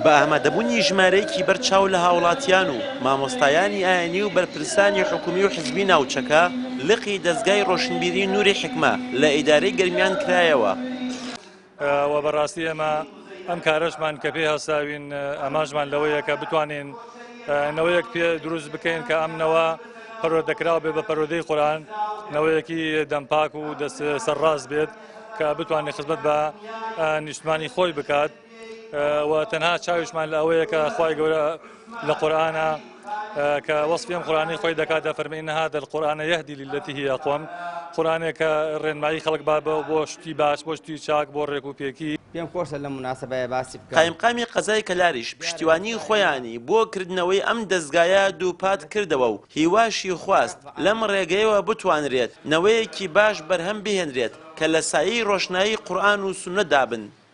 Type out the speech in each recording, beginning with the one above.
بە ئامادەبوونی ژمارەیەکی بەر چاو لە هاوڵاتیان و مامۆستایانی ئاینی و بەرپرسانی حکومی و حزبی ناوچەکە، لقی دەزگای ڕۆشنبیری نوری حیکمە لە ئیدارەی گەرمیان کرایەوە. وە بە ڕاستی ئێمە ئەم کارەشمان کە پێی هەستاوین ئامانجمان لەوەیە کە بتوانین نەوەیەک پێ دروست بکەین کە ئەم نەوە پەروەردەکراو بێ بە پەروەدەی قورئان نەوەیەکی دەم پاک و دەست سەر ڕاست بێت کە بتوانێت خزمەت بە نیشتمانی خۆی بکات. و تەنها چاویشمان لە ئەوەیە کە خوای گەورە لە قورآە کە وەسپیم قورانی خۆی دەکات دەفەرمی نها دەل قورآە یهدی للەتی هی ئەقوم قورانێک کە ڕێنمایی خەڵک با بە بۆ شتی باش بۆ شتی چاک بۆ ڕێک و پێکی پێم خۆشە لەم مناسبەیە باسی بکەم. قایمقامی قەزای کەلاریش پشتیوانی خۆیانی بۆ کردنەوەی ئەم دەزگایە دووپات کردەوە و هیواشی خواست لەم ڕێگەیەوە بتوانرێت نەوەیەکی باش بەرهەم بهێنرێت کە لە سایەی ڕۆشنایی قورئان و سوننەدا بن.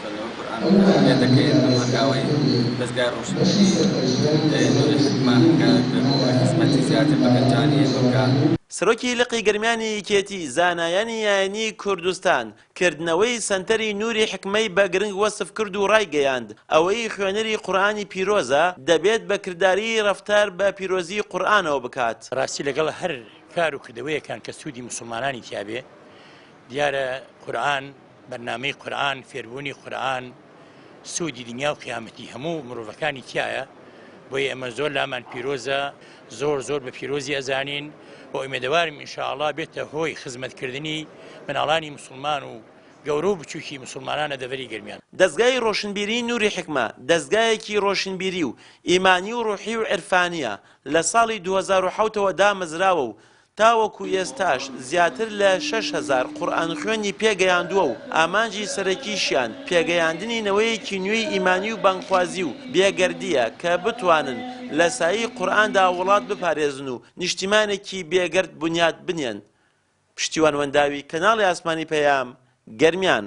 خوێندنەوەی قورئان بەکاربهێن دەکەوێت بەم هەنگاوەی دەزگای ڕۆشنبیری نوری حیکمە هەنگاوێک بێت بۆ ئەوەی خزمەتی زیاتر بە گەنجانی ئێمە بکات. سەرۆکی لقی گەرمیانی یەکێتی زانایانی ئاینی کوردستان کردنەوەی سەنتەری نوری حیکمەی بە گرنگ وەسف کرد و ڕایگەیاند، ئەوەی خوێنەری قورئانی پیرۆزە دەبێت بە کرداری ڕەفتار بە پیرۆزی قورئانەوە بکات. بەڕاستی لەگەڵ هەر کار و کردەوەیەکان کە سوودی موسڵمانانی تیابێ دیارە قورئان بەرنامەی قورئان فێربوونی قورئان سوودی دنیا و قیامەتی هەموو مرۆڤەکانی تایە بۆی ئەمە زۆر لامان پیرۆزە زۆر زۆر بە پیرۆزی ئەزانین بۆ ئومێدەوارم ئینشاءڵا بێتە هۆی خزمەتکردنی مناڵانی مسلمان و گەورە و بچووکی مسلمانانە دەڤەری گەرمیان. دەزگای ڕۆشنبیریی نوری حیکمە دەزگایەکی ڕۆشنبیری و ئیمانی و ڕوحی و عیرفانییە لە ساڵی دوو هەزار و حەوت ەوە دامەزراوە و تاوەکو ئێستاش زیاتر لە شەش هەزار قورئانخوێنی پێگەیاندووە و ئامانجی سەرەکیشیان پێگەیاندنی نەوەیەکی نوێی ئیمانی و بانگخوازی و بێگەردییە کە بتوانن لە سایەی قورئاندا وڵات بپارێزن و نیشتیمانێکی بێگەرد بنیات بنێن پشتیوان وەنداوی کەناڵی ئاسمانی پەیام گەرمیان.